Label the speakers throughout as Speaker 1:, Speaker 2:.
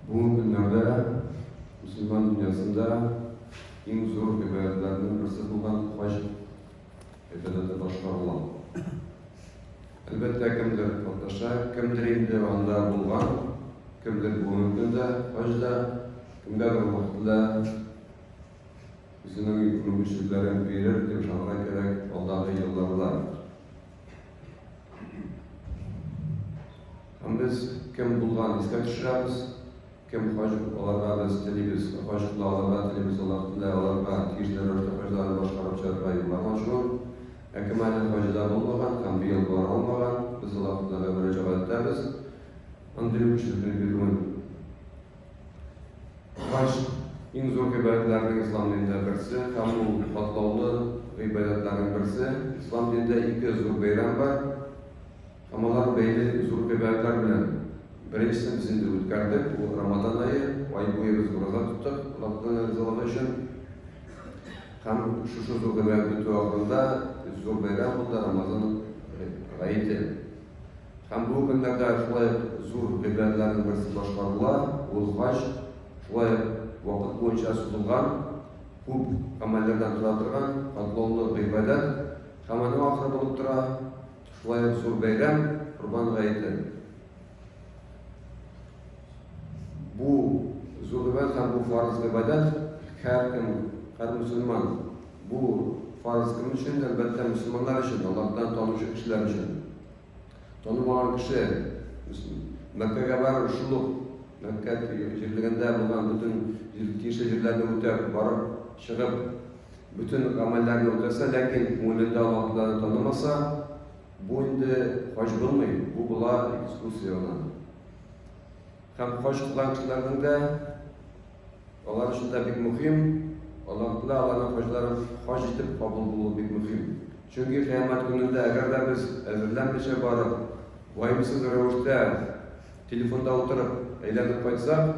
Speaker 1: Бүгенге көннәрдә мөселман дөньясында иң зур гыйбадәтләрнең берсе булган хаҗ гыйбадәте башкарыла. Әлбәттә, кемдер катнаша, кемдер инде анда булган, кемдер бүгенге көндә хаҗда, кемгәдер вакытында үзенең мөмкинчелекләрен бирер дип ышанырга кирәк алдагы елларда. Һәм без кем булган искә төшерәбез, кем хаҗип аларга без телибез, хаҗиплы аларга телибез, алар телә аларга кишләр рәвештә хаҗларын башкарып чыгарырга юллар ачу. Ә кем әле хаҗида булмаган һәм быел бара алмаган, без алар теләгә мөрәҗәгать итәбез. Андый үк җирле бирүен Хаҗ иң зур гыйбадәтләрнең ислам динендә берсе һәм ул катлаулы гыйбадәтләрнең берсе. Ислам динендә ике зур бәйрәм бар һәм алар бәйле зур гыйбадәтләр белән. Беренчесен без инде үткәрдек, ул Рамадан ае, ай буе без ураза тоттык Аллаһтан ризалыгы өчен. Һәм шушы зур гыйбадәт бетү ахырында зур бәйрәм булды, Рамазан гаете. Һәм бу көннәрдә шулай ук зур гөмбәләрнең берсе башкарыла, узгач, шулай ук вакыт буенча сузылган, күп гамәлләрдән тора торган катлаулы гыйбадәт, һәм аның ахыры булып тора шулай ук зур бәйрәм, Корбан гаете. Бу зур гыйбадәт һәм бу фарыз гыйбадәт һәркем, һәр мөселман, бу фарыз кем өчен? Әлбәттә, мөселманнар өчен, Аллаһтан танучы кешеләр өчен. Танымаган кеше Мәккәгә барыр, шул ук Мәккә җирлегендә булган бөтен тиешле җирләрне үтәп, барып, чыгып, бөтен гамәлләрне үтәсә, ләкин күңелендә Аллаһ Тәгаләне танымаса, бу инде хаҗ булмый, бу була экскурсия гына. Һәм кош кылан кызларның да алар өчен дә бик мөһим, Аллаһтына аларның хаҗларын хаҗ итеп кабул булуы бик мөһим. Чөнки кыямәт көнендә, әгәр дә без әзерләнмичә барып, ваемсыз рәвештә телефонда утырып әйләнеп кайтсак,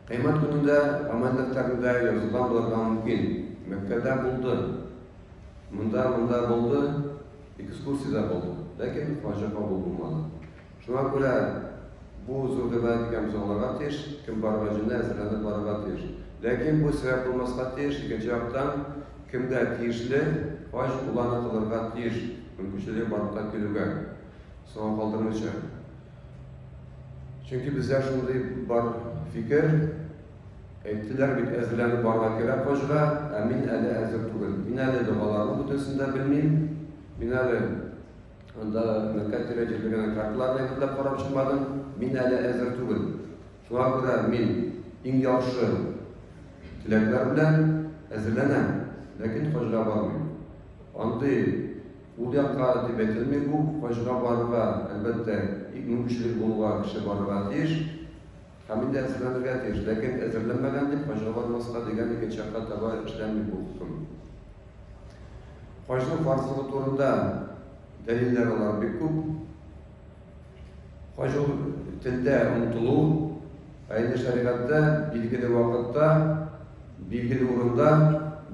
Speaker 1: кыямәт көнендә гамәл дәфтәрендә язылган булырга мөмкин. Мәккәдә булды, монда, монда булды, экскурсиядә булды, ләкин хаҗы кабул булмады. Шуңа күрә бу зур гына дигән без аңларга тиеш, кем барырга җыена, әзерләнеп барырга тиеш. Ләкин бу сәбәп булмаска тиеш, икенче яктан, кемгә тиешле хаҗ, ул аны кылырга тиеш, мөмкинчелеге барлыкка килүгә, соңга калдырмыйча. Чөнки бездә шундый бар фикер, әйттеләр бит, әзерләнеп барырга кирәк хаҗга, ә мин әле әзер түгел. Мин әле догаларның бөтенесен дә белмим, мин әле Анда мәктәп директоры генә карталарны әзерләп карап чыкмадым. Мин әле әзер түгел. Шуңа күрә мин иң яхшы теләкләр белән әзерләнәм, ләкин Хаҗга бармыйм. Андый ул якка дип әйтелми бу. Хаҗга барырга, әлбәттә, мөмкинчелеге булуга кеше барырга тиеш. Һәм инде әзерләнергә тиеш, ләкин әзерләнмәгән дип хаҗаланмаска дигән икенче якка таба эшләнми бу хөкем. Хаҗның фарзлыгы турында дәлилләр алар бик күп. Хаҗ ул телдә омтылу, ә инде шәригатьтә билгеле вакытта, билгеле урында,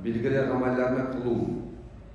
Speaker 1: билгеле гамәлләрне кылу.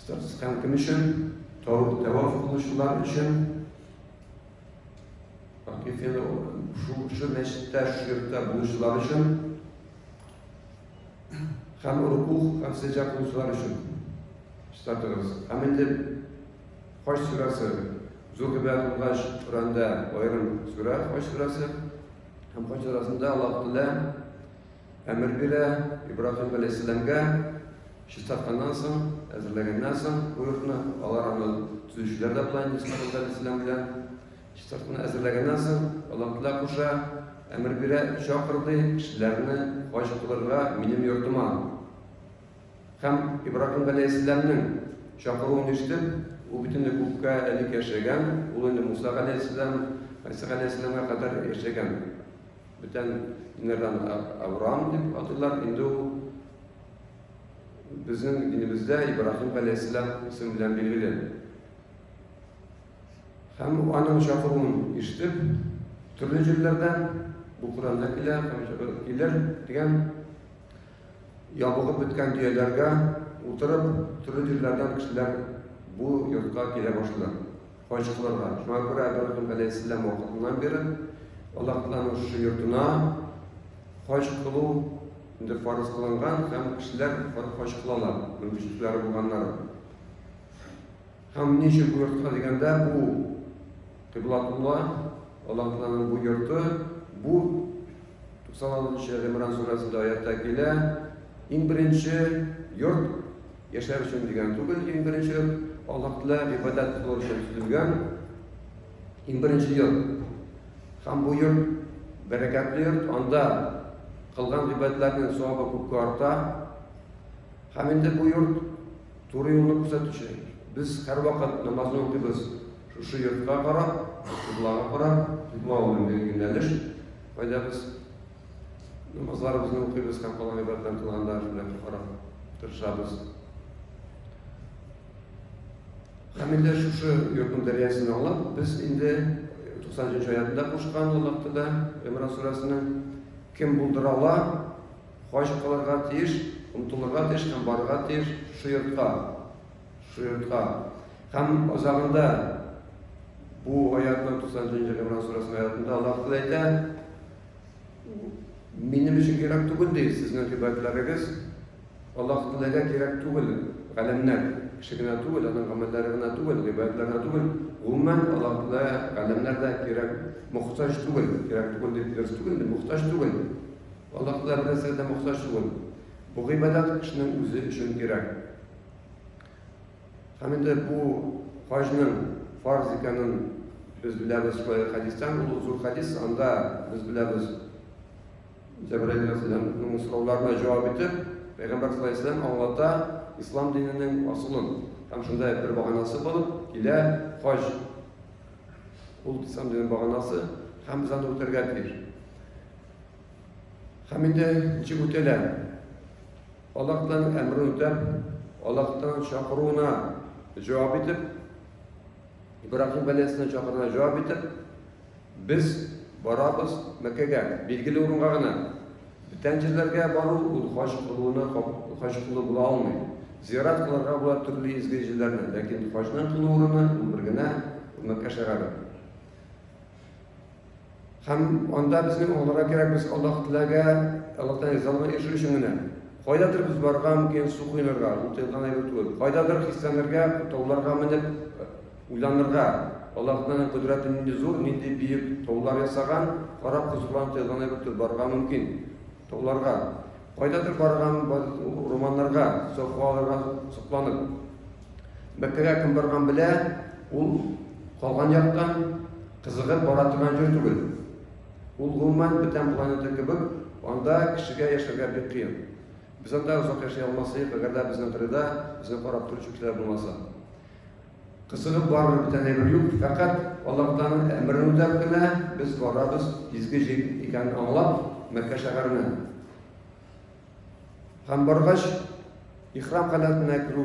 Speaker 1: Статистиканың кем өчен? Тәваф кылучылар өчен. Хакыйкыйда шул шул мәчеттә, шул йортта булучылар өчен һәм руку һәм сәҗә кылучылар өчен. Статус. Һәм инде Хаҗ сүрәсе зур гыйбадәт булгач, Коранда аерым сүрә Хаҗ сүрәсе. Һәм Хаҗ сүрәсендә Аллаһ Тәгалә Әмер бирә Ибраһим галәйһиссәламгә чистартканнан соң, әзерләгәннән соң бу йортны, алар аны төзүчеләр дә була инде Исмәгыйль галәйһиссәлам белән. Чистартуны әзерләгәннән соң, Аллаһ Тәгалә куша, әмер бирә, чакыр ди кешеләрне хаҗ кылырга минем йортыма. Һәм Ибраһим галәйһиссәламнең чакыруын ишетеп, ул бит инде күпкә элек яшәгән, ул инде Муса галәйһиссәлам, Гайса галәйһиссәламга кадәр яшәгән. Бүтән инердан Авраам дип атыйлар, инде ул безнең динебездә Ибраһим галәйһиссәлам исеме белән билгеле. Һәм аның чакыруын ишетеп, төрле җирләрдән бу Коранда килә, килер дигән ябыгып беткән дөяләргә утырып, төрле җирләрдән кешеләр бу йортка килә башлыйлар. Хаҗ кылырга. Шуңа күрә Әбрахим галәйһиссәлам вакытыннан бирле Аллаһтан узышы йортына хаҗ кылу инде фарыз кылынган һәм кешеләр хаҗ кылалар, мөмкинчелекләре булганнары. Һәм ни өчен бу йортка дигәндә, бу Кыйблатулла, Аллаһтаның бу йорты, бу 96 нчы Гимран сүрәсендә аятта килә, иң беренче йорт Яшәр өчен дигән түгел, иң беренче ел Аллаһ Тәгалә гыйбадәт кылу өчен төзелгән иң беренче ел. Һәм бу йорт бәрәкәтле йорт, анда кылган гыйбадәтләрнең савабы күпкә арта. Һәм инде бу йорт туры юлны күрсәтүче. Без һәрвакыт намазны укыйбыз шушы йортка карап, кыблага карап, кыйбла ул инде юнәлеш, кайда без Намазларыбызны укыйбыз һәм калган гыйбадәтләрне тулганда шулай карап тырышабыз. Һәм инде шушы йортның дәрьясын аңлап, без инде 90 аятында кушкан Аллаһта да Имран сүрәсенең кем булдыра ала, хаҗ кылырга тиеш, омтылырга тиеш һәм барырга тиеш шушы йортка. Шушы йортка. Һәм азагында бу аятның 90 Имран сүрәсенең аятында Аллаһ әйтә, Минем өчен кирәк түгел ди сезнең гыйбадәтләрегез. Аллаһ Тәгаләгә кирәк түгел галәмнәр. Кеше генә түгел, аның гамәлләре генә түгел, гыйбадәтләре генә түгел. Гомумән Аллаһ Тәгалә галәмнәр дә кирәк, мохтаҗ түгел. Кирәк түгел дип дөрес түгел, мохтаҗ түгел. Аллаһ Тәгалә бер нәрсәгә дә мохтаҗ түгел. Бу гыйбадәт кешенең үзе өчен кирәк. Һәм инде бу хаҗның фарз икәнен без беләбез Саи хәдистән, ул зур хәдис, анда без беләбез Җәбраил алейхиссәламның сорауларына җавап итеп, Пәйгамбер саллаллаху алейхи вәсәләм аңлата ислам диненең асылын. Һәм шунда бер баганасы булып килә хаҗ. Ул ислам диненең баганасы һәм без аны үтәргә тиеш. Һәм инде ничек үтәләр? Аллаһтан әмер үтәп, Аллаһтан чакыруына җавап итеп, Ибрахим галәйһиссәлам чакыруына җавап итеп, без барабыз Мәккәгә, билгеле урынга гына. Бүтән җирләргә бару ул хаҗ кылуына хаҗ кылу була алмый. Зиярат кылырга була төрле изге җирләрне, ләкин хаҗның кылу урыны ул бер генә Мәккә шәһәре. Һәм анда безнең аллага кирәк, без Аллаһ теләгә, Аллаһтан ризалыгына ирешү өчен генә. Кайдадыр без барырга мөмкин, су коенырга, ул тыелган әйбер түгел. Кайдадыр хисләнергә, тауларга менеп, уйланырга. Аллаһның кодрәте нинди зур, нинди бөек таулар ясаган, карап хозурланып тыелган әйбер түгел, барырга мөмкин. Тауларга. Кайдадыр барган урманнарга, сокланырга, сокланып. Мәккәгә кем барган белә, ул калган яктан кызыгып бара торган җир түгел. Ул гомумән бүтән планета кебек, анда кешегә яшәргә бик кыен. Без анда озак яши алмас идек, әгәр дә безнең кырыйда безне карап торучы кешеләр булмаса. Кызыгып барыр бүтән әйбер юк, фәкать Аллаһтан әмерен үтәп кенә без барабыз, изге җир икәнен аңлап, Мәккә шәһәренә. Һәм баргач, ихрам халәтенә керү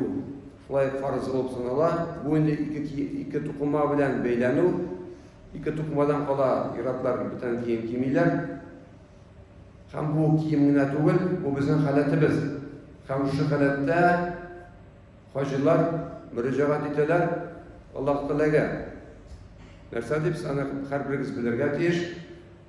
Speaker 1: шулай фарыз булып санала. Бу инде ике, ике тукыма белән бәйләнү. Ике тукымадан кала иратлар бүтән кием кимиләр. Һәм бу кием генә түгел, бу безнең халәтебез. Һәм шушы халәттә хаҗилар мөрәҗәгать итәләр Аллаһ Тәгаләгә. Нәрсә дип, аны һәрберегез белергә тиеш.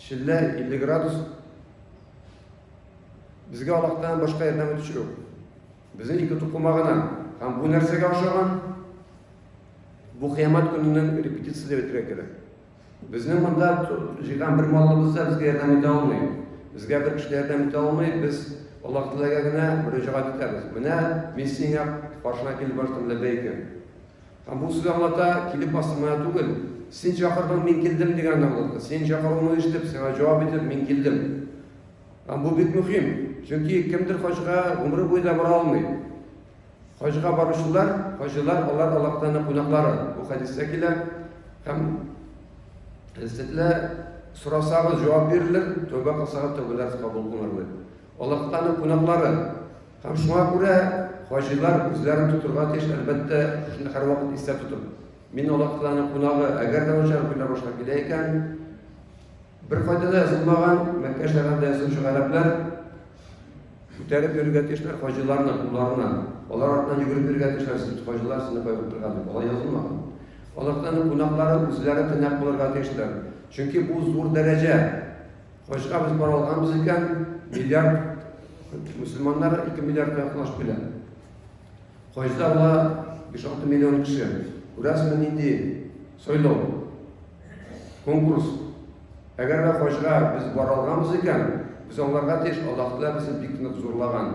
Speaker 1: Челлә 50 градус. Безгә Аллаһтан башка ярдәм итүче юк. Безнең ике тукыма гына. Һәм бу нәрсәгә ошаган? Бу кыямәт көненең репетициясе дип әйтергә кирәк. Безнең монда җыйган бер малыбыз да безгә ярдәм итә алмый. Безгә бер кеше ярдәм итә алмый. Без Аллаһ Тәгаләгә генә мөрәҗәгать итәбез. Менә мин сиңа каршына килеп баштым ләбәйкә. Ә бу сүз аңлата, килеп бастым гына түгел. Син чакырдың, мин килдем дигәнне аңлата. Синең чакыруыңны ишетеп, сиңа җавап итеп, мин килдем. Һәм бу бик мөһим, чөнки кемдер хаҗга гомере буе да бара алмый. Хаҗга баручылар, хаҗилар, алар Аллаһтан кунаклары. Бу хәдистә килә. Һәм сезле сорасагыз, җавап бирелер, тәүбә кылсагыз, тәүбәләрегез кабул булыр. Аллаһтан кунаклары, Һәм шуңа күрә хаҗилар үзләрен тотырга тиеш, әлбәттә, шуны һәрвакыт истә тотып. Мин Аллаһтаның кунагы, әгәр дә начар уйлар башлап килә икән, беркайда да язылмаган Мәккә шәһәрендә язучы гарәпләр күтәреп йөрергә тиешләр хаҗиларны, кулларына. Алар артынан йөгереп йөрергә тиешләр, сез хаҗилар сезне кайгырып торган дип. Алай язылмаган. Аллаһтаның кунаклары үзләре тыйнак булырга тиешләр. Чөнки бу зур дәрәҗә. Кайчыга без бара алганбыз икән, миллиард мөселманнар 2 миллиардка якынлашып килә. Кайчыда була 5-6 миллион кеше. Күрәсезме нинди сайлау? Конкурс. Әгәр дә кайчыга без бара алганбыз икән, без аңларга тиеш, Аллаһ Тәгалә безне бик нык зурлаган.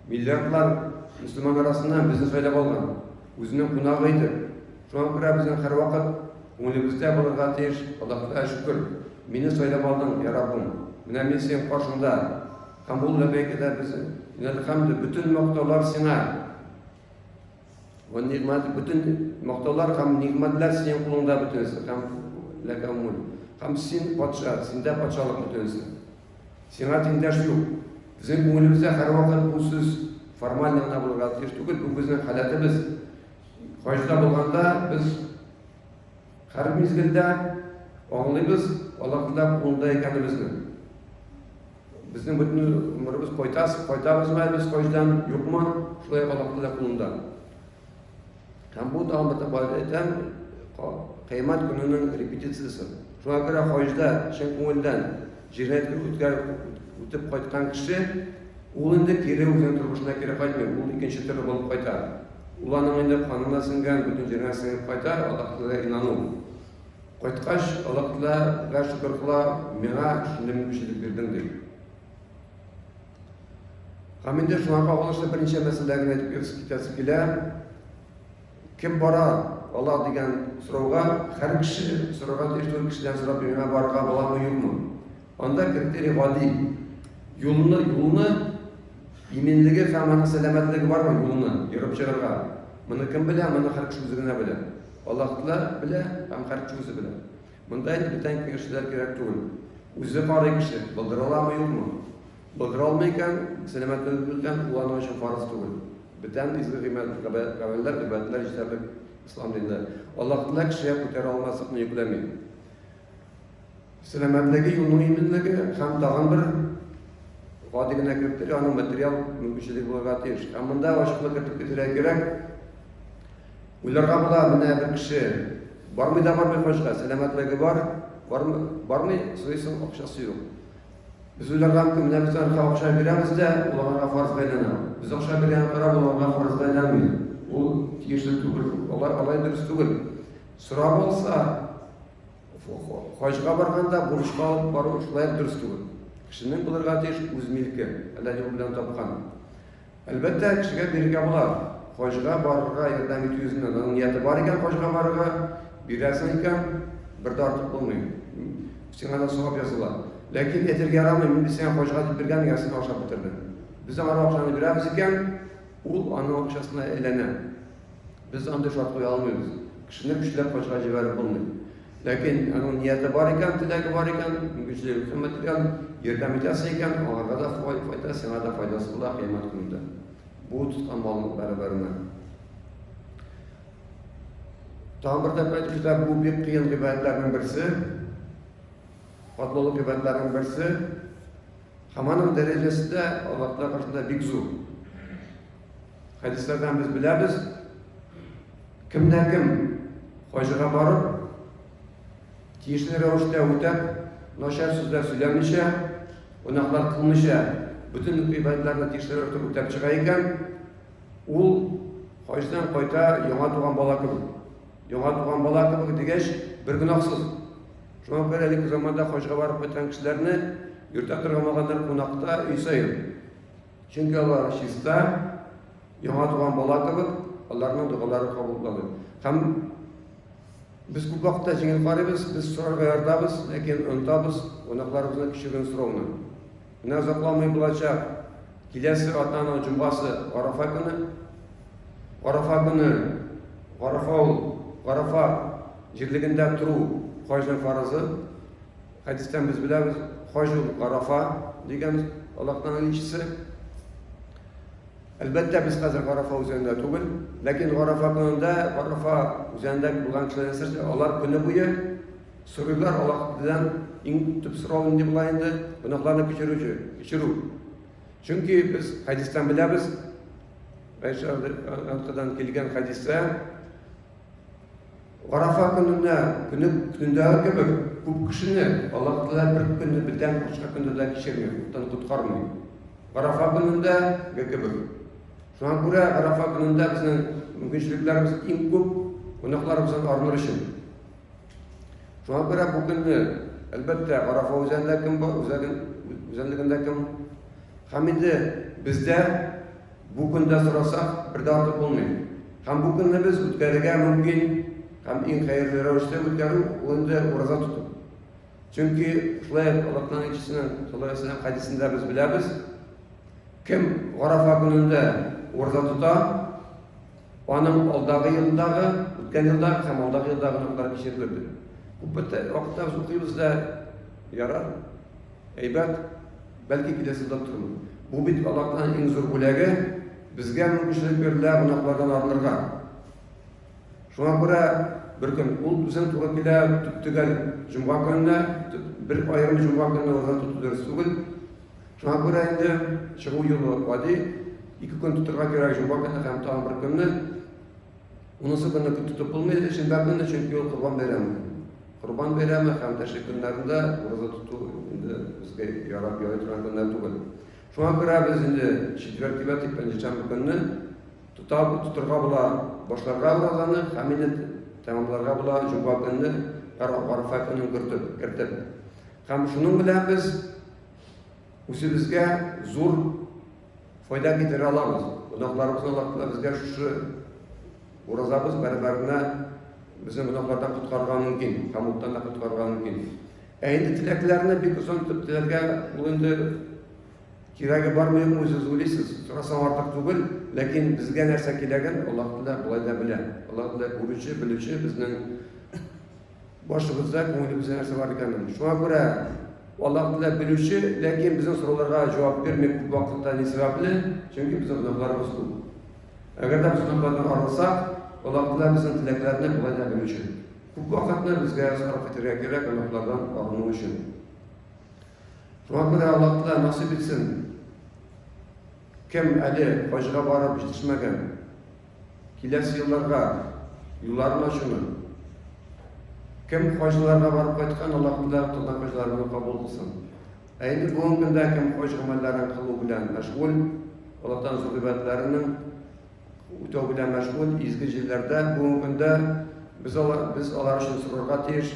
Speaker 1: Миллиардлар мөселман арасыннан безне сайлап алган, үзенең кунагы итеп. Шуңа күрә безнең һәрвакыт күңелебездә булырга тиеш, Аллаһыга шөкер, мине сайлап алдың, я Раббым, менә мин синең каршыңда. Һәм ул ләбәйкәдә без, инәлхәмде, бөтен мактаулар сиңа. Ван нигмат, бөтен мактаулар һәм нигматлар синең кулыңда бөтенесе. Һәм ләкәмул. Һәм син патша, синдә патшалык бөтенесе. Сиңа тиңдәш юк. Безнең күңелебездә һәрвакыт бу сүз формаль гына булырга тиеш түгел, бу безнең халәтебез. Хаҗда булганда без һәр мизгелдә аңлыйбыз Аллаһ Тәгалә кулында икәнебезне. Безнең бөтен гомеребез кайтас, кайтабызмы без хаҗдан, юкмы, шулай Аллаһ Тәгалә кулында. Һәм бу тагын бер тапкыр әйтәм, кыямәт көненең репетициясе. Шуңа күрә хаҗда чын күңелдән җирнәткә үткәреп үтеп кайткан кеше ул инде кире үзенең тормышына кире кайтмый, ул икенче төрле булып кайта. Ул аның инде канына сеңгән, бөтен җиренә сеңеп кайта, Аллаһ Тәгаләгә инану. Кайткач, Аллаһ Тәгаләгә шөкер кыла, миңа шундый мөмкинчелек бирдең дип. Һәм инде шуңа кагылышлы берничә мәсьәлә генә әйтеп китәсе килә. Кем бара ала дигән сорауга һәр кеше сорарга тиеш түгел кешедән сорап миңа барырга буламы юкмы? Анда критерий гади. Юлны, юлны иминлеге һәм аның сәламәтлеге бармы юлны йөреп чыгарга? Моны кем белә? Моны һәр кеше үзе генә белә. Аллаһ Тәгалә белә һәм һәр кеше үзе белә. Монда инде бүтән киңәшләр кирәк түгел. Үзе карый кеше, булдыраламы, юкмы. Булдыра алмый икән, сәламәтлегебездән куллану өчен фарыз түгел. Бүтән изге гыйбадәт, гамәлләр, гыйбадәтләр җитәрлек ислам динендә. Аллаһ Тәгалә кешегә күтәрә алмаслыкны йөкләми. Сәламәтлеге, юлның иминлеге һәм тагын бер гади генә кертер, аның материал мөмкинчелеге булырга тиеш. Ә монда ачыклык кертеп китәргә кирәк. Уйларга була, менә бер кеше бармый да бармый качка, сәламәтлеге бар, бармый, бармый сорыйсың, акчасы юк. Без уйларга мөмкин, менә без аңа акча бирәбез дә, ул аңа фарз бәйләнә. Без акча биргәнгә карап, ул аңа фарз бәйләнми. Ул тиешле түгел. Алар алай дөрес түгел. Сорап алса, хаҗга барганда бурычка алып бару шулай дөрес түгел. Кешенең булырга тиеш үз милке, хәләл юл белән тапкан. Әлбәттә, кешегә бирергә була. Хаҗга барырга ярдәм итү йөзеннән. Аның нияте бар икән хаҗга барырга, бирәсең икән, бер дә артык булмый. Сиңа да савап языла. Ләкин әйтергә ярамый, мин сиңа хаҗга дип биргән ярсына ашап бетердем. Без аңа акчаны бирәбез икән, ул аның акчасына әйләнә. Без андый шартлый алмыйбыз. Кешене көчләп качка җибәреп булмый. Ләкин аның нияте бар икән, теләге бар икән, мөмкинчелеге кыйммәт икән, ярдәм итәсе икән, аңарга да файда, сиңа да файдасы була кыйммәт көнендә. Бу тоткан балык бәрабәренә. Тагын бер тәпә төшә, бу бик кыен гыйбадәтләрнең берсе, катлаулы гыйбадәтләрнең берсе, һәм аның дәрәҗәсе дә Аллаһ Тәгалә каршында бик зур. Хәдисләрдән без беләбез, кемдә кем хаҗыга барып, тиешле рәвештә үтәп, начар сүзләр сөйләмичә, гөнаһлар кылмыйча, бөтен гыйбадәтләрне тиешле рәвештә үтәп чыга икән, ул хаҗдан кайта яңа туган бала кебек. Яңа туган бала кебек дигәч, бер гөнаһсыз. Шуңа күрә әлеге заманда хаҗга барып кайткан кешеләрне йөртә торган булганнар кунакта өй саен. Чөнки алар чиста, яңа туган бала кебек, аларның догалары кабул булалар. Һәм без күп вакытта җиңел карыйбыз, без сорарга ярдабыз, ләкин онтабыз кунакларыбызны кичүген сорауны. Менә озакламый булачак киләсе атаның җомгасы Арафа көне. Арафа көне Арафа ул Арафа җирлегендә тору хаҗның фарызы. Хәдистән без беләбез, хаҗ ул Арафа дигән Аллаһның илчесе. Әлбәттә, без хәзер Гарафа үзәгендә түгел, ләкин Гарафа көнендә, Гарафа үзәгендә булган кешеләр нәрсә, алар көне буе сорыйлар Аллаһтан иң төп сорау инде була инде, гөнаһларны кичерүче, кичерү. Чөнки без хәдистән беләбез, Айшадан килгән хәдистә, Арафа көнендә, көне көндәге кебек, күп кешене Аллаһ Тәгалә бер көнне бетән башка көнне дә кичерми, күптән коткармый. Арафа көнендә ге кебек. Шуңа күрә Арафа көнендә безнең мөмкинчелекләребез иң күп, кунакларыбыздан арыныр өчен. Шуңа күрә бу көнне, әлбәттә, Арафа үзәгендә кем бар, үзәген, үзәнлегендә кем. Һәм инде бездә Бу көндә сорасак, бер дә артык булмый. Һәм бу көнне без үткәрергә мөмкин, һәм иң хәерле рәвештә үткәрү, ул инде ураза тоту. Чөнки шулай ук Аллаһның илчесенең саллаллаһу алейһи ва сәлләм хәдисендә без беләбез, кем Гарафа көнендә ураза тота, Аның алдагы елдагы, үткән елдагы һәм алдагы елдагы турында кичер бирде. Күп вакытта без укыйбыз да, ярар, әйбәт, бәлки киләсе елда тормый. Бу бит Аллаһтан иң зур бүләге, безгә мөмкинчелек бирелә гөнаһлардан арынырга. Шуңа күрә бер көн ул безнең туры килә төп төгәл җомга көненә, бер аерым җомга көненә уздыру дөрес түгел. Шуңа күрә инде чыгу юлы гади, ике көн тотырга кирәк, җомга көне һәм тагын бер көнне. Унысы көнне күп тотып булмый, шимбә көне, чөнки ул Корбан бәйрәме. Корбан бәйрәме һәм тәшрик көннәрендә ураза тоту инде безгә ярап ярый торган көннәр түгел. Шуңа күрә без инде четверг дип әйтик, пәнҗешәмбе көнне тота, тотырга була башларга уразаны һәм инде тәмамларга була җомга көнне Гарфа көнен кертеп, кертеп. Һәм шуның белән без үзебезгә зур файда китерә алабыз. Гөнаһларыбыз Аллаһка безгә шушы уразабыз бәрабәренә безне гөнаһлардан коткарырга мөмкин, камыттан да коткарырга мөмкин. Ә инде теләкләрне бик озын итеп теләргә ул инде кирәге бармы юкмы үзегез уйлыйсыз. Сорасаң артык түгел, ләкин безгә нәрсә кирәген Аллаһ Тәгалә болай да белә. Аллаһ Тәгалә күрүче, белүче, безнең Башыбызда, күңелебездә нәрсә бар икәнен. Шуңа күрә Аллаһ Тәгалә белүче, ләкин безнең сорауларга җавап бирми күп вакытта ни сәбәпле? Чөнки безнең гөнаһларыбыз күп. Әгәр дә без гөнаһлардан арынсак, Аллаһ Тәгалә безнең теләкләрне болай да белүче. Күп вакытны безгә сарыф итәргә кирәк гөнаһлардан арыну өчен. Шуңа күрә Аллаһ Тәгалә насыйп итсен. Кем әле хаҗга барып җитешмәгән? Киләсе елларга юлларын ачуны. Кем хаҗларга барып кайткан, Аллаһ Тәгалә кылган хаҗларны кабул кылсын. Ә инде бүгенге көндә кем хаҗ гамәлләрен кылу белән мәшгуль, Аллаһтан зур гыйбадәтләренең үтәү белән мәшгуль изге җилләрдә бүгенге көндә без алар без алар өчен сорарга тиеш,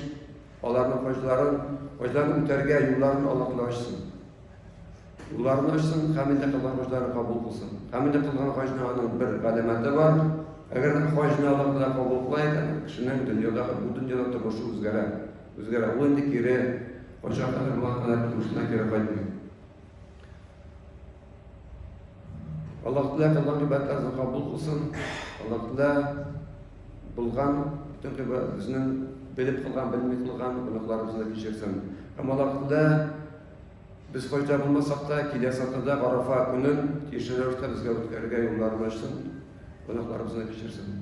Speaker 1: аларның хаҗларын, хаҗларын үтәргә юлларын Аллаһ Тәгалә ачсын. Уларны өчен камилдә кылган хаҗлары кабул кылсын. Камилдә кылган хаҗны аның бер галәмәте бар. Әгәр хаҗны аларда кабул кыла икән, кешенең дөньяда бу дөньяда тормышы үзгәрә. Үзгәрә. Ул инде кире кайчан кадәр булган кадәр тормышына кире кайтмый. Аллаһ Тәгалә кылган гыйбадәтләрне кабул кылсын. Аллаһ Тәгалә булган бөтен гыйбадәтләрне белеп кылган, белми кылган гөнаһларыбызны кичерсен. Һәм Аллаһ Тәгалә Без кайда булмасак та, киләсе атнада Арафа көнен тиешле рәвештә безгә үткәрергә юлларны ачсын, гөнаһларыбызны кичерсен.